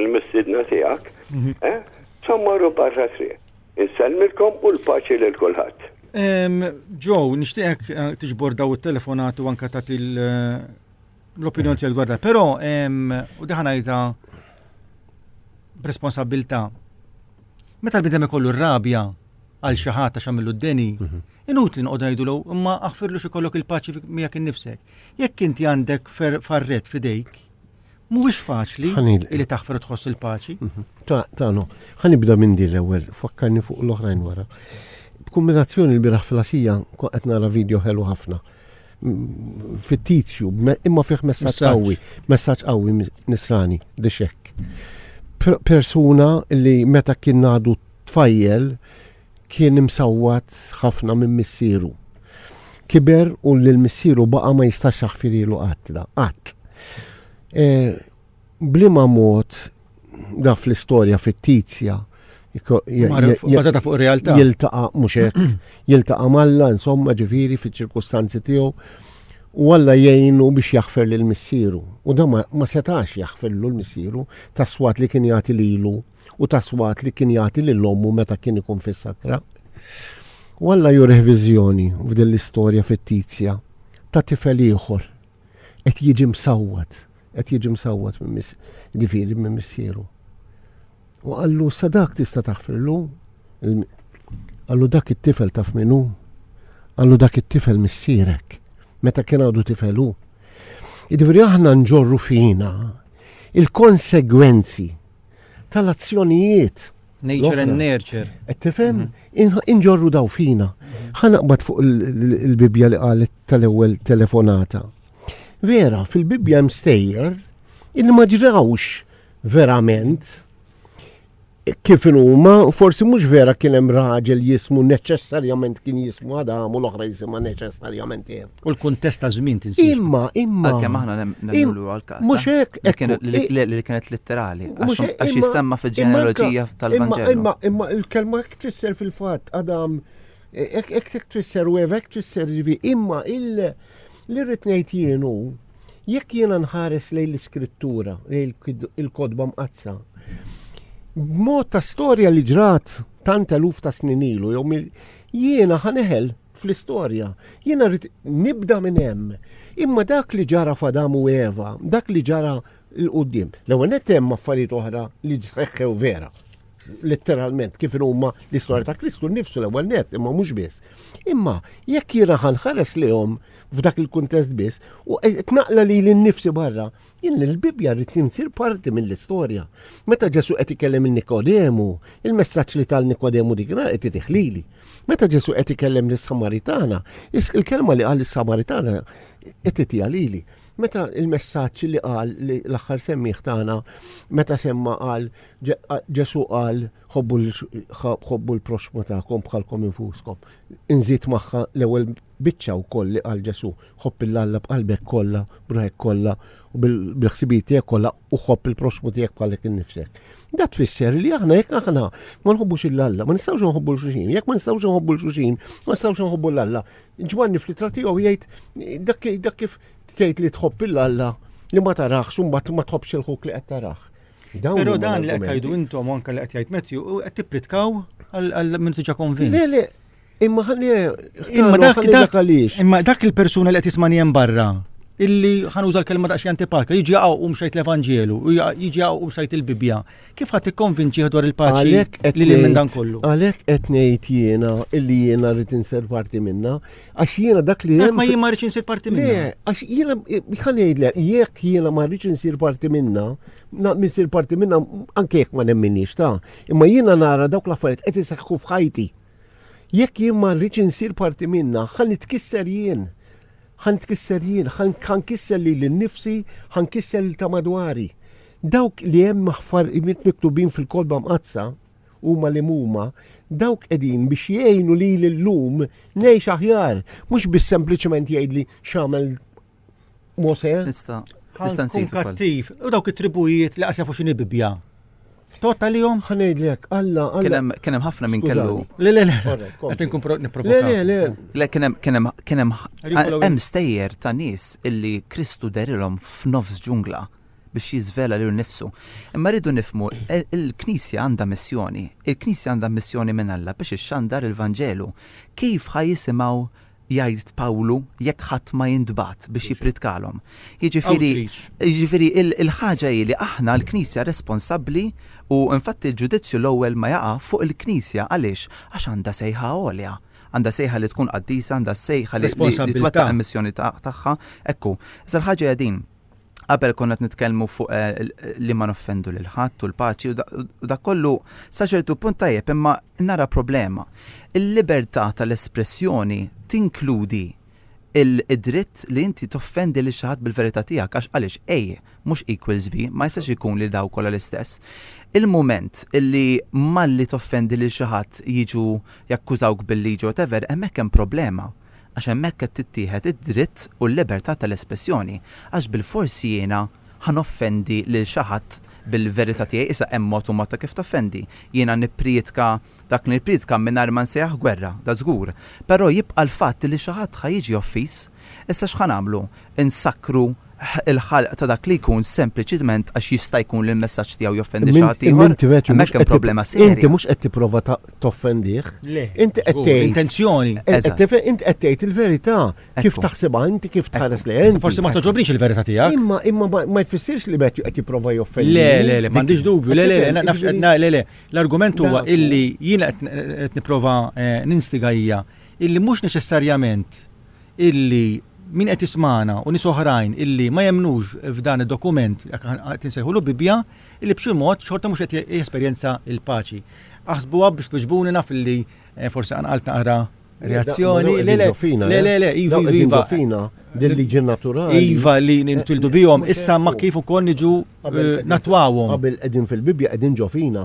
l-mistiedna tiegħek, eh, sa mmorru barra t-triq. Insellmilkom u l-paċi lil kulħadd. Joe, nixtieqek eh, tiġbor daw it-telefonati u anka tagħti l-opinjoni tiegħek dwar Però u diħan għajta b'responsabilità. Meta l-bidem ikollu r-rabja għal xi ħadd għax għamillu d-deni, mhm. inutli noqgħod ngħidulu imma aħfirlu xi kollok il-paċi miegħek innifsek. Jekk inti għandek farret fidejk, Mhuwiex faċli li taħfer u tħoss il-paċi. Ta, ta, no. Ħa nibda minn din l-ewwel, fakkarni fuq l-oħrajn wara. B'kumbinazzjoni l-biraħ fil-għaxija qed nara video ħelu ħafna fittizju, imma fih messaġġ qawwi, messaġġ qawwi nisrani, dixek. Persuna li meta kien għadu tfajjel, kien imsawwat ħafna minn missieru. Kiber u lil missieru baqa' ma jistax jaħfirilu qatt da, qatt. E, blima mod da fl-istorja fittizja Bażata fuq realtà. Jiltaqa' mhux hekk, jiltaqa' malla insomma ġifieri fiċ-ċirkustanzi tiegħu u Alla jgħinu biex jaħfer lil missieru. U da ma setax jaħferlu l-missieru tas-swat li kien jagħti lilu u tas-swat li kien jagħti lil ommu meta kien ikun fis-sakra. U Alla jurih viżjoni f'din l-istorja fittizja ta' tifel ieħor qed jiġi msawwat, qed jiġi msawwat minn mis, ġifieri minn missieru. U qallu sa dak tista' taħfirlu, qallu dak it-tifel taf minnu, qallu dak it-tifel missierek, meta kien għadu tifelu. Ġifieri aħna nġorru fina il-konsegwenzi tal-azzjonijiet. Nature and nurture. Qed tifhem? Mhm. Inġorru daw fina. Mhm. Ħanaqbad fuq il-Bibbja li qalet tal-ewwel telefonata. Vera, fil-Bibbja hemm stejjer illi ma ġrawx verament kif huma, forsi mhux vera kien hemm raġel jismu neċessarjament kien jismu Adam u l-oħra jisimha neċessarjament Eva. U l-kuntest ta' żmien tinsiex. Imma, imma. Għalkemm aħna nemmnu għal-każ. Mhux hekk. Li kienet litterali. Għax jissemma fil-ġenealoġija tal-Vangelo. Imma, imma il-kelma hekk tfisser fil-fatt, Adam, hekk tfisser u hekk tfisser ġivi, imma il-rit ngħid jienu, jekk jiena nħares lejn l-iskrittura, lejn il-kodba mqazza, b'mod ta' storja li ġrat tant eluf ta' snin ilu, jew jiena ħaneħel fl-istorja. Jiena rrid nibda minn hemm. Imma dak li ġara f'Adam u Eva, dak li ġara l-qudiem. L-ewwel net hemm affarijiet oħra li ġseħħew vera. Letteralment kif huma l-istorja ta' Kristu nnifsu l-ewwel net, imma mhux biss. Imma jekk jiena ħanħares lihom f'dak il-kuntest biss u qed naqla li l-nifsi barra, Jien l-Bibbja rrid insir parti mill-istorja. Meta Ġesu qed ikellem il Nikodemu, il-messaġġ li tal Nikodemu dik nhar qed itiħlili. Meta Ġesu qed ikellem lis-Samaritana, il-kelma li qal is-Samaritana qed itiha lili. Meta il-messaġġ li qal l-aħħar semmiħ tagħna meta semma qal Ġesu qal ħobbu l-proxmu tagħkom bħalkom infuskom. Inżid magħha l-ewwel Biċċa wkoll li qal Ġesù, Ħobb 'il Alla b'qalbek kollha, b'ruħek kollha, u bil-ħsibijiet tiegħek kollha, u ħobb il-proxxmu tiegħek bħalek innifsek. Da tfisser li aħna jekk aħna ma nħobbux 'il Alla, ma nistgħux nħobbu l xuxin. Jekk ma nistgħux nħobbu l xuxin, ma nistgħux nħobbu l Alla. Ġwanni fl-ittra tiegħu jgħid dak kif tgħid li tħobb 'il Alla li ma tarax u mbagħad ma tħobbx il-ħuk li qed tarax. Pero dan li qed tajdu intom anke li qed jgħid Matthew, qed tippritkaw għal minn tiġa konvint. Imma ħalli Imma dak dak għaliex. Imma dak il-persuna li qed jismani hemm barra illi ħanuża l-kelma daqs jantipaka, jiġi għaw u mxajt l-Evanġelu, jiġi għaw u mxajt il-Bibja. Kif ħadd ikkonvinċi dwar il-paċi li li minn dan kollu? Għalhekk qed ngħid jiena illi jiena rrid insir parti minna, għax jiena dak li hemm. Ma jien ma rridx insir parti minna. Għax jiena ħanejdlek jekk jiena ma rridx insir parti minna, minsir parti minna anke jekk ma nemminix ta' imma jiena nara dawk l-affarijiet qed iseħħu f'ħajti. Jekk jien ma rridx insir parti minnha, ħa nitkisser jien. Ħa nitkisser jien, ħa nkisser lili nnifsi, ħa nkisser lil ta' madwari. Dawk li hemm aħfarijiet miktubin fil-Kolba Mqaddsa huma li huma, dawk qegħdin biex jgħinu lili llum ngħix aħjar, mhux biss sempliċement jgħidli x'għamel Mose. Nista. Nista nsitu. Kattiv. U dawk it-tribujiet li qasja fuq xini bibja. Tota li jom? Ħanejdlek, Alla, Alla. Kienem ħafna minn kellu. Le, le, le. Għet nkun niprofa. Le, le, le. Le, kienem, kienem, kienem, hemm stejjer ta' nis illi Kristu derilhom f'nofs ġungla biex jizvela lil nifsu. Imma rridu nifmu, e, il-Knisja għandha missjoni. Il-Knisja għandha missjoni minn Alla biex ixxandar il-Vanġelu. Kif ħajisimgħu Jgħid Pawlu, Jekk ħadd ma jintbagħat biex jippridkalhom. Jiġifieri, jiġifieri l-ħaġa hi li aħna l-Knisja responsabbli u infatti l-ġudizzju l-ewwel ma jaqa' fuq il-Knisja għaliex? Għax għandha sejħa għolja. Għandha sejħa li tkun qaddisa, għandha s-sejħa li twettaq il-missjoni tagħha. Hekk hu. Iżda l-ħaġa hija din, Qabel konna qed nitkellmu fuq eh, li ma noffendu lil ħadd u l-paċi u dak kollu sa ċertu punt tajjeb imma nara problema. Il-libertà tal-espressjoni tinkludi il-dritt li inti toffendi li xaħat bil-verità tiegħek għax għaliex A mhux equals B ma jistax ikun li daw kollha l-istess. Il-mument li malli toffendi li xaħat jiġu jakkużawk bil-liġi whatever hemmhekk hemm problema. għax hemmhekk qed tittieħed id-dritt u l-libertà tal-espressjoni għax bilfors jiena ħa noffendi lil xi ħadd bil-verità tiegħi issa hemm mod u mod ta' kif toffendi. Jiena nipprietka dak li nipprietka mingħajr ma nsejjaħ gwerra, da' żgur. Però jibqa' l-fatt li xi ħadd ħa jiġi offiż. Issa x'ħa nagħmlu? Insakkru il-ħalq ta' dak li jkun sempliċitment għax jista' jkun li l-messaġġ tiegħu joffendi xi ħadd ieħor, hemmhekk hemm problema serja. Inti mhux qed tipprova toffendih. Le. Inti qed tgħid. Intenzjoni. Inti qed tgħid il-verità kif taħsibha inti kif tħares li inti. Forsi ma toġobniex il-verità tiegħek. Imma imma ma jfissirx li Matthew qed jipprova joffendi. Le, le, le, m'għandix dubju. Le, le, le, le, le. L-argument huwa illi jiena qed nipprova eh, ninstiga hija illi mhux neċessarjament illi min qed jismagħna u nies oħrajn illi ma jemmnux f'dan id-dokument qed insejħulu Bibbja, illi b'xi mod xorta mhux qed jesperjenza l-paċi. Aħsbuha biex twiġbuni naf illi eh, forsi qanqalt naqra reazzjoni. Le, le, le, le, le, iva, iva. fina dil-liġi naturali. Iva li nintwildu bihom, issa ma kif ukoll niġu eh, natwawhom. Qabel qegħdin fil-Bibbja qegħdin ġofina.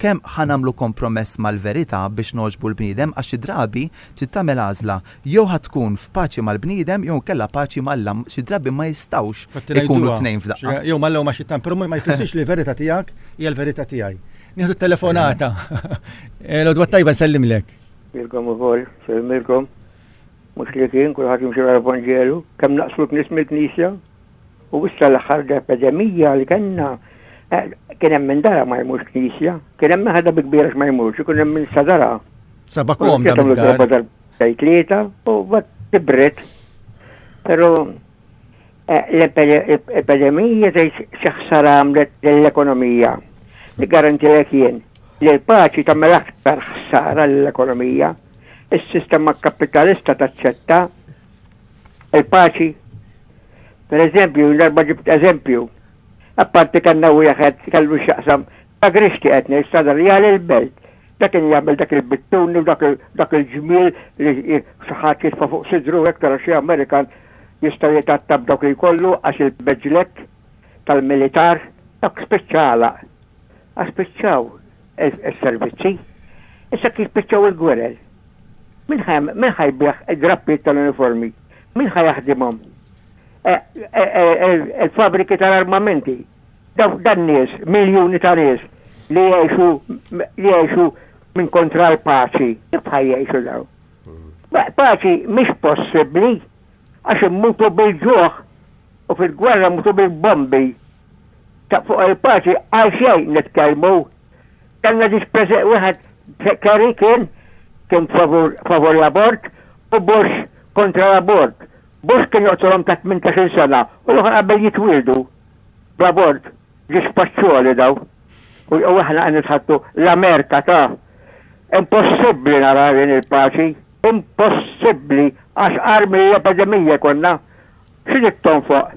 kemm ħa nagħmlu kompromess mal-verità biex nogħġbu l-bniedem għax xi drabi trid tagħmel għażla, jew ħa tkun f'paċi mal-bniedem jew inkella paċi ma' Alla, xi drabi ma jistgħux ikunu t-tnejn f'daqqa. Jew ma' Alla jew ma' Xittan, però ma jfissirx li l-verità tiegħek hija l-verità tiegħi. Nieħdu t-telefonata. L-għodwa t-tajba nsellimlek. Lilkom ukoll, nsellimilkom. Mhux li kien kulħadd jimxi wara l-Evanġelu, kemm naqslu knis mill-Knisja? U issa l-aħħar epidemija li kellna, kien hemm min dara ma jmurx knisja, kien hemm min ħadha bi kbira x'ma jmurx, ikun hemm min sa dara. Saba komda minn darba tal-bejt lieta u bat tibret. Però l-epidemija tgħid xi ħsara għamlet lill-ekonomija. Li garantilek jien li l-paċi tagħmel aktar ħsara lill-ekonomija. Is-sistema kapitalista taċċetta Il-paċi, per eżempju, l-darba ġibt eżempju, apparti kellna wieħed kellu x'jaqsam ta' grixti qed ngħid Sadar Real il-Belt. Dak kien jagħmel dak il-bittuni u dak il-ġmiel li xi ħadd jitfa' fuq sidru u hekk tara xi Amerikan jista' jitgħatta b'dawk li jkollu għax il-beġlet tal-militar, dawk spiċċa għalaq. Għax spiċċaw. is-servizzi, issa kif spiċċaw il-gwerer? Min ħa min ħa jbigħ id-drappijiet tal-uniformi? Min ħa jaħdimhom? Il-fabbriki tal-armamenti? Dawk dan-nies, miljuni ta' nies li jgħixu li jgħixu minn kontra l-paċi, kif ħa jgħixu dawn? Paċi mhix possibbli għax immutu bil-ġuħ u fil-gwerra mmutu bil-bombi. Ta' fuq il-parti għal xejn nitkellmu. Kellna ġiex preże wieħed Kerry kien kien favur favur l-abort u Bush kontra l-abort. Bush kien joqtolhom ta' tmintax-il sena u l-oħra qabel jitwieldu bl-abort. Ġiex paċċuoli daw. U u aħna qed nitħaddtu l-Amerka ta'. Impossibbli naraw jien il-paċi. Impossibbli għax agħar mill-epedemija jkollna. X'inhi t-tonfoq?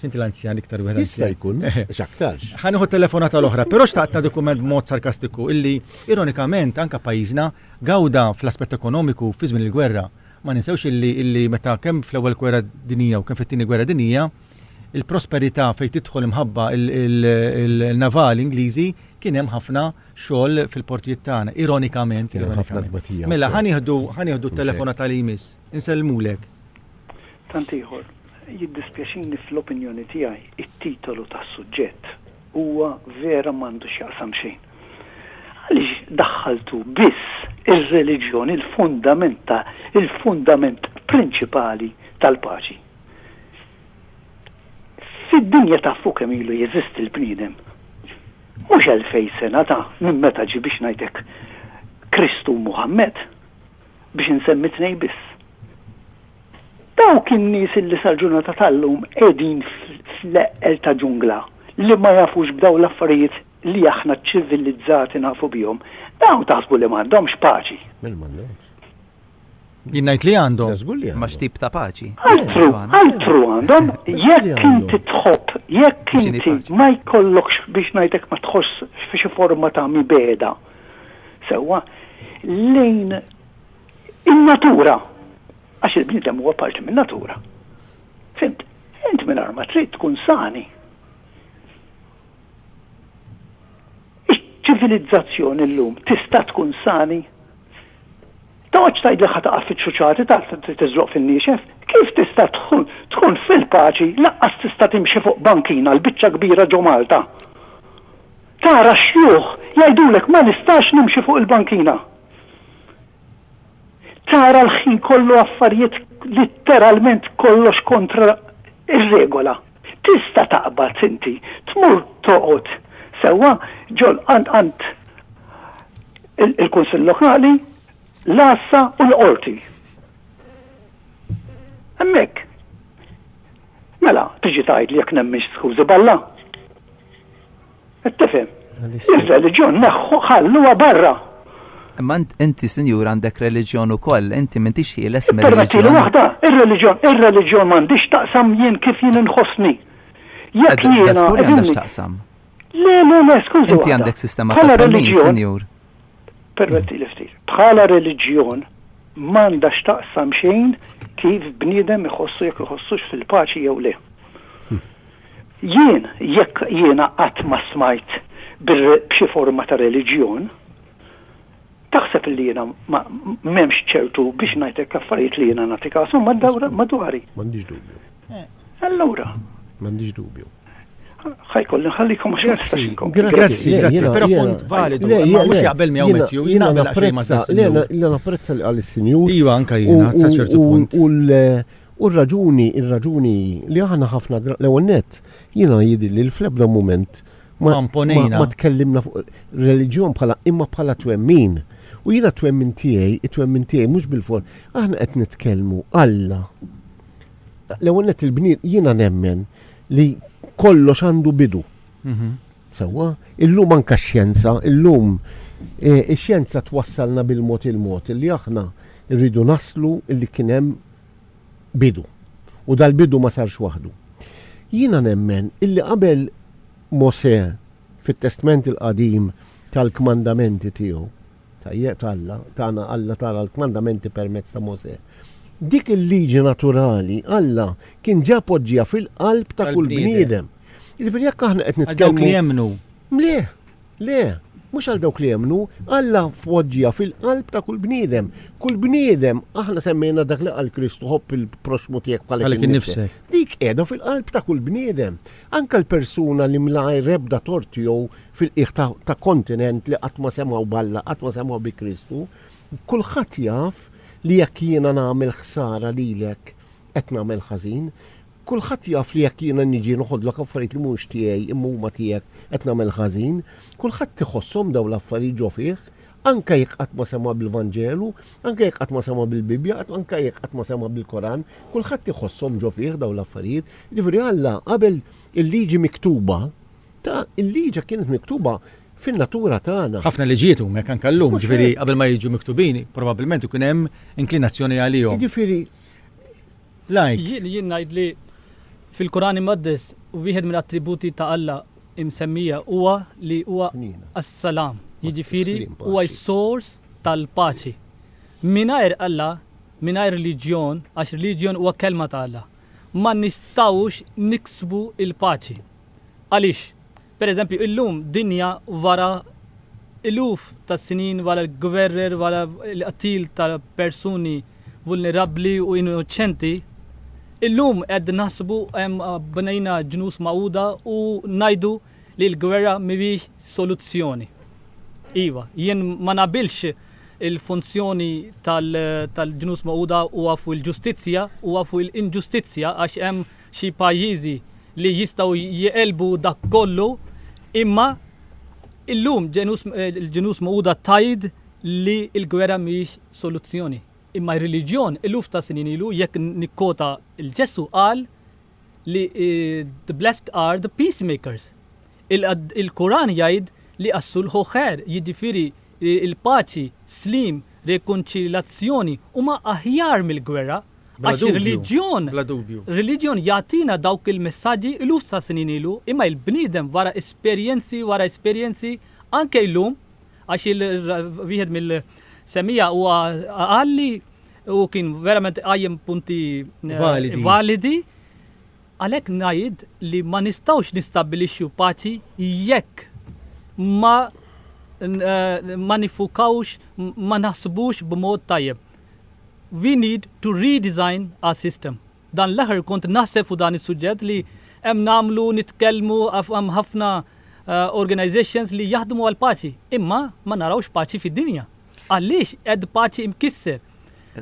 Finti l-anzjan iktar wieħed. Jista' jkun, x'aktarx. Ħa nieħu telefonata l-oħra, però xtaqt ta' dokument b'mod sarkastiku illi ironikament anka pajjiżna gawda fl-aspett ekonomiku fi żmien il-gwerra. Ma ninsewx illi illi meta kemm fl-ewwel gwerra dinija u kemm fit-tieni gwerra dinija il-prosperità fejn tidħol imħabba il-navali Ingliżi kien hemm ħafna xogħol fil-portijiet tagħna, ironikament. Mela ħanieħdu ħanieħdu telefona tal-imis, insellmulek. Tant ieħor. Jiddispjaċini fl-opinjoni tiegħi t-titolu tas-suġġett huwa vera m'għandu x'jaqsam xejn. Għaliex daħħaltu biss ir-reliġjon il-fundament ta' il-fundament prinċipali tal-paċi? Fid-dinja ta' fu kemm ilu jeżisti l-bniedem? Mhux elfej sena ta' minn meta ġie biex ngħid hekk Kristu u Muħammed? biex insemmi tnejn biss. Dawk in-nies illi sal-ġurnata tal-lum qegħdin fl-eqqel ta' ġungla li ma jafux b'dawn l-affarijiet li aħna ċ-ċivilizzati nafu bihom, dawn taħsbu li m'għandhomx paċi? Mela m'għandhomx. Jien ngħid li għandhom. Da żgur li għandhom. Imma x'tip ta' paċi? Altru, altru għandhom. Jekk inti tħobb, jekk inti ma jkollokx, biex ngħidlek ma tħossx xi forma ta' mibegħda. sewwa lejn in-natura, għax il-bniedem huwa parti min-natura. Fhimt? Int mingħajr ma trid tkun sani. Iċ-ċivilizzazzjoni llum tista' tkun sani? Toqgħodx tgħidli ħa taqa' fiċ-ċuċati ta' tiżloq fin-niexef. Kif tista' tkun fil-paċi lanqas tista' timxi fuq bankina l-biċċa kbira ġo Malta? Tara x-xjuħ jgħidulek ma nistax nimxi fuq il-bankina. Tara l-ħin kollu affarijiet litteralment kollox kontra r-regola. Tista' taqbad inti tmur toqgħod sewwa ġol għand il-Kunsill Lokali, l-Għassa u l-Qorti. Hemmhekk. Mela tiġi tgħidli jekk nemminx skużi b'Alla? Qed tifhem? Ir-reliġjon neħħu ħalluha barra. Imma inti sinjur għandek reliġjon ukoll, inti m'intix ħieles mir-reliġjon. Ippermettili waħda, ir-reliġjon, ir-reliġjon m'għandhiex taqsam jien kif jien inħossni. Jekk jiena. Da żgur li għandha x'taqsam. Le, le, le, skuża. Inti għandek sistema ta' reliġjon, sinjur. Permettili ftit. Bħala reliġjon m'għandha x'taqsam xejn kif bniedem iħossu jekk iħossux fil-paċi jew le. Jien, jekk jiena qatt ma stmajt b'xi forma ta' reliġjon, taħseb li jiena m'hemmx ċertu, biex ngħid hekk, affarijiet li jiena nagħti kashom madwari? M'għandix dubju. Allura. M'għandix dubju. Ħa jkolli nħallikom għax ma nistax inkompli. Grazzi, grazzi, però punt validu. Le, le, mhux jaqbel miegħu Matthew, jien naqbel għax ma tistax. Le, napprezza li qal is-Sinjur. Iva, anke jiena, sa ċertu punt. U r-raġuni, ir-raġuni hi li aħna ħafna dra-, l-ewwel nett, jiena jidhirli li fl-ebda mument ma, Ma mponejna. ma tkellimna fuq reliġjon bħala, imma bħala twemmin. U jiena t-twemmin tiegħi, it-twemmin tiegħi mhux bil-for, aħna qed nitkellmu, Alla, l-ewwel nett il-bnied, jiena nemmen li kollox għandu bidu. Mhm. Sewwa? Illum anke x-xjenza, illum eh, ix-xjenza twassalna bil-mod il-mod li aħna rridu naslu li kien hemm bidu. U dal-bidu ma sarx waħdu. Jiena nemmen illi qabel Mosè fit-Testment il-Qadim ta l-kmandamenti tiegħu, tajjeb, ta' Alla, tana Alla tana l-kmandamenti permezz ta' Mosè, dik il-liġi naturali Alla kien ġa poġġieha fil-qalb ta' kull bniedem. Jiġifieri jekk aħna qed nitkellmu. Ta' dawk li jemmnu. Le! Le, mhux għal dawk li jemmnu. Alla poġġiha fil-qalb ta' kull bniedem. Kull bniedem, aħna semmejna dak li qal Kristu, ħobb il-proxxmu tiegħek bħalek innifsek. Dik qiegħda fil-qalb ta' kull bniedem. Anke l-persuna li mlgħajr ebda tort tiegħu fil-qiegħ ta' kontinent li qatt ma semgħu b'Alla, qatt ma semgħu bi Kristu, kulħadd jaf li jekk jiena nagħmel ħsara lilek qed nagħmel ħażin. Kulħadd jaf li jekk jiena niġi noħodlok affarijiet li mhumiex tiegħi imma huma tiegħek qed nagħmel ħażin. Kulħadd iħosshom dawn l-affarijiet ġo fih, anke jekk qatt ma sema' bil-Vanġelu, anke jekk qatt ma sema' bil-Bibbja, anke jekk qatt ma sema' bil-Koran, kulħadd iħosshom ġo fih dawn l-affarijiet. Jiġifieri Alla qabel il-Liġi miktuba, ta, il-Liġi kienet miktuba fin-natura tagħna. Ħafna liġijiet huma hekk anke llum, jiġifieri qabel ma jiġu miktubin probabbilment ikun hemm inklinazzjoni għalihom. Jiġifieri Like. Jien jien ngħid li fil-Quran Imqaddes wieħed mill-attributi ta' Alla imsemmija huwa li huwa as-Salam, jiġifieri huwa s-sors tal-paċi. Mingħajr Alla, mingħajr reliġjon, għax reliġjon huwa kelma ta' Alla, ma nistgħux niksbu l-paċi. Għaliex? Pereżempju, illum, dinja wara eluf ta' snin wara l-gwerer, wara l-qtil ta' persuni vulnerabbli u innoċenti, illum qed naħsbu hemm bnejna ġnus magħquda u ngħidu li l-gwerra mhijiex soluzzjoni. Iva, jien ma naqbilx il-funzjoni tal-ġnus magħquda huwa fuq il-ġustizzja, huwa fuq il-inġustizzja għax hemm Xi pajjiżi li jistgħu jegħlbu dak kollu, imma illum l-Ġnus Magħquda tgħid li l-gwerra mhijiex soluzzjoni. Imma r-reliġjon eluf ta' snin ilu, jekk nikkota 'l Ġesù qal li the blessed are the peacemakers. Il-Quran jgħid li as-sulh hu khair, jiġifieri l-paċi, slim, rekonċiljazzjoni huma aħjar mill-gwerra. Għax ir-reliġjon, reliġjon jagħtina dawk il-messaġġi iluf ta' snin ilu, imma il-bniedem wara esperjenzi wara esperjenzi anke llum, għax wieħed mill-semmija huwa qal li u kien verament qajjem punti eh, validi. Għalhekk ngħid li ma nistgħux nistabbilixxu paċi jekk ma eh, ma nifukawx ma naħsbux b'mod tajjeb. we need to redesign our system. Dan l-aħħar kont naħseb fuq dan is-suġġett li hemm nagħmlu nitkellmu hemm ħafna eh, organizations li jaħdmu għal paċi, imma ma narawx paċi fid-dinja. Għaliex qed paċi mkisser.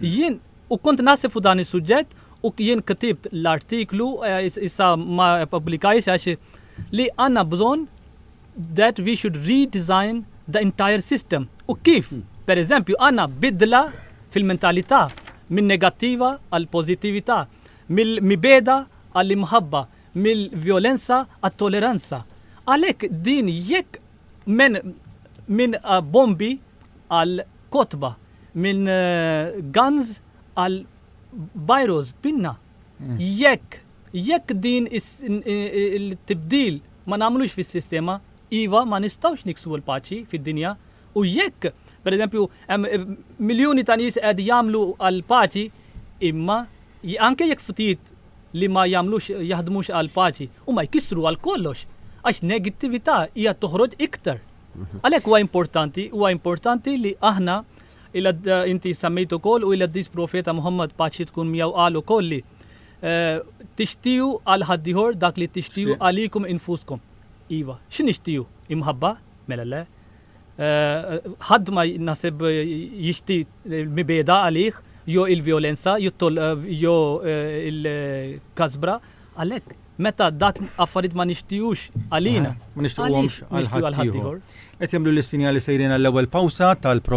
Jien u kont naħseb fuq dan is-suġġett u jien ktibt l-artiklu eh, issa ma publikajx għax li għandna bżonn that we should redesign the entire system u kif, per eżempju, għanna bidla fil-mentalità minn negattiva għal pożittività, mill-mibeda għall-imħabba, mill-vjolenza għat-toleranza. Għalhekk din jekk men minn uh, bombi għal kotba, minn uh, guns għal bajros pinna. Jekk, jekk din il-tibdil ma nagħmlux fis-sistema, iva ma nistgħux niksbu l-paċi fid-dinja u jekk, pereżempju, hemm eh, miljuni ta' nies qed jagħmlu għall-paċi imma anke jekk ftit li ma jagħmlux jaħdmux għall-paċi u ma jkissru għal kollox għax negattività hija toħroġ iktar. Mhm. Għalhekk huwa importanti, huwa importanti li aħna Il-Qaddis inti semmejt ukoll u il-Qaddis Profeta Muħammad paċi tkun miegħu qal ukoll li tixtiju għal ħaddieħor dak li tixtiju għalikom infuskom. Iva, xi nixtiju? Imħabba? Mela le. Ħadd ma naħseb jixti mibeda għalih jew il-vjolenza jew il-kasbra għalhekk meta dak affarijiet ma nixtijux għalina. Ma nixtijux għal ħaddieħor. Qed jagħmlu l-istinjali sejrin għall-ewwel pawsa tal-programm.